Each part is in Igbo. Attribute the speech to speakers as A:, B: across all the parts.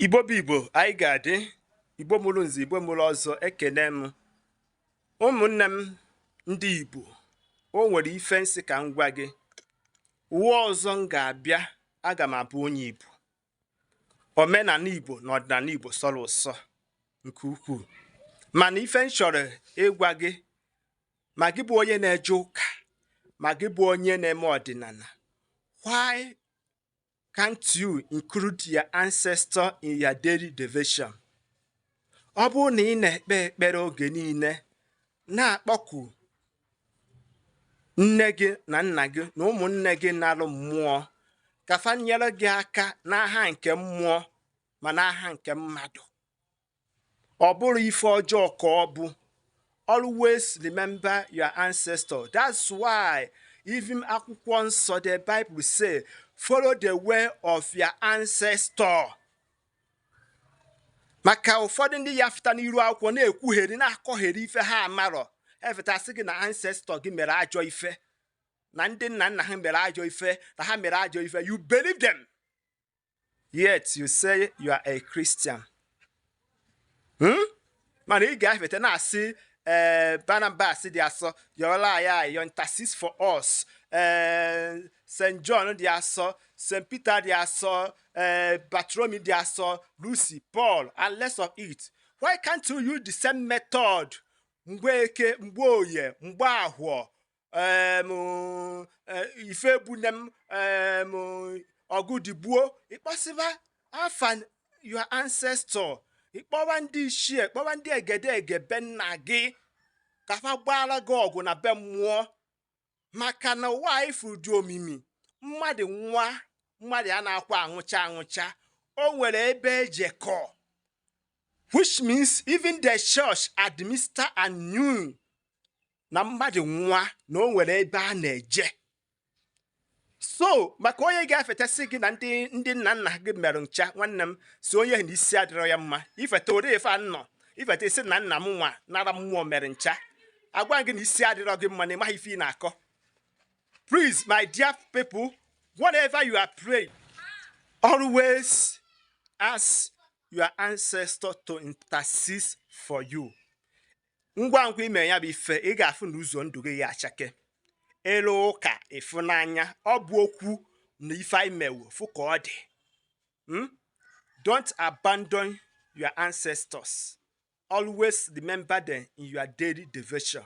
A: igbo bụ igbo anyị ga-adị igbo mụrụ nze igbo mụrụ ọzọ ekene m ụmụnne m ndị igbo o nwere ife m sị ka m gwa gị ụwa ọzọ m ga-abịa aga m abụ onye igbo omenala igbo na ọdịnala igbo sọrọ ụsọ nke ukwuu mana ife m chọrọ ịgwa gị ma gị bụ onye na-eje ụka ma gị bụ onye na-eme ọdịnala why Can't you include your ancestor in your daily devotion? Ọ bụrụ na ị na-ekpe ekpere oge niile na-akpọku nne gị na nna gị na ụmụnne gị nalụ mmụọ ka fa nyere gị aka n'aha nke mmụọ ma n'aha nke mmadụ ọ bụrọ ife ọjọọ ka ọ bụ always remember your ancestor that's why even akwụkwọ nsọ the bible say follow the way of your ancestor maka ụfọdụ ndị ya-afụta n'iru akwụkwọ na-ekwugheri na-akọgheri ife ha amarọ e feta sị gị na ancestor gị mere ajọ ife na ndị nna nna ha mere ajọ ife na ha mere ajọ ife you believe them yet you say you are a Christian hmm? mana ị ga-efeta na-asị ee eh, Barnabas dị asọ yọọlụ anyị ayịyọ intercede for us ee eh, St John dị asọ St Peter dị asọ ee eh, Bartholomew dị asọ Lucy Paul and rest of it why can't you use the same method Mgbeke Mgboye Mgbahọ ife ebune m ọgụ digbuo ị kpọsịba afa your ancestor ị kpọwa ndị ichie kpọwa ndị egede ege be nna gị ka fa gbaara gị ọgụ na be mmụọ maka na ụwa ị fụrụ dị omimi mmadụ nwụa mmadụ anakwa anwụcha anwụcha o nwere ebe e jekọ which means even the church admitted and knew na mmadụ nwụa na o nwere ebe a na-eje so maka onye ga-efeta sị gị na ndị ndị nna nna gị merụ ncha nwanne m sị onye na isi adịrọ ya mma ị feta ori ife anọ ị feta sị na nna m nwa nara mmụọ mere ncha agwa gị na isi adịrọ gị mma na ị maghị ife ị na-akọ please my dear people whatever you are praying always ask your ancestor to intercede for you ngwa ngwa ị mee ya bụ ife ị ga-afụ na ụzọ ndụ gị ya-achake ị lụ ụka ị fụ n'anya ọ bụ okwu na ife i mewe fụ ka ọ dị hmm? don't abandon your ancestors always remember them in your daily devotion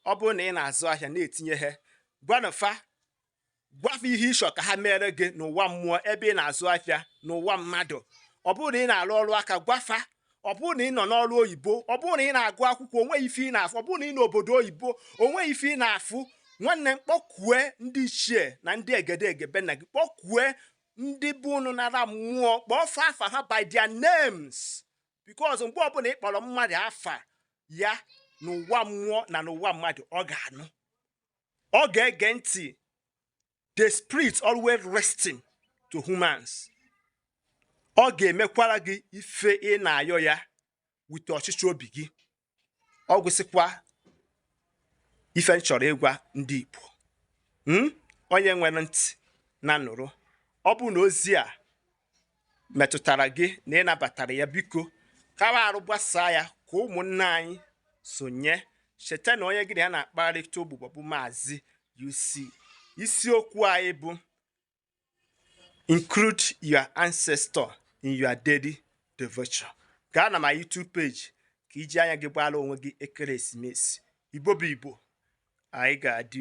A: ọ bụrụ na ị na-azụ ahịa na-etinye ha gwanụ fa gwa fa ihe ị chọ ka ha mere gị n'ụwa mmụọ ebe ị na-azụ afịa n'ụwa mmadụ ọ bụrụ na ị na-arụ ọrụ aka gwa fa ọ bụrụ na ị nọ n'ọrụ oyibo ọ bụrụ na ị na-agụ akwụkwọ o nwe ife ị na-afụ ọ bụrụ na ị nọ n'obodo oyibo o nwe ife ị na-afụ nwanne m kpọkue ndị ichie na ndị egedege be nna gị kpọkue ndị be unu nara mmụọ kpọọ fa afa ha by their names because mgbe ọbụla ị kpọrọ mmadụ afa ya n'ụwa mmụọ na n'ụwa mmadụ ọ ga-anụ ọ ga-ege ntị the spirit always listen to humans ọ ga-emekwara gị ife ị na-ayọ ya wete ọchịchọ obi gị ọ gwụsịkwa ife m chọrọ ịgwa ndị Igbo hmm? onye nwere ntị nya nụrụ ọ bụrụ na ozi a metụtara gị na ị nabatara ya biko kawa arụ gbasaa ya ka ụmụnna anyị sonye cheta na onye gị na ya na-akparịta ụbụbọ bụ maazị UC isiokwu anyị bụ include your ancestor in your daily devotion gaa na my YouTube page ka i ji anya gị gbaara onwe gị ekeresimesi igbo bụ igbo anyị ga-adị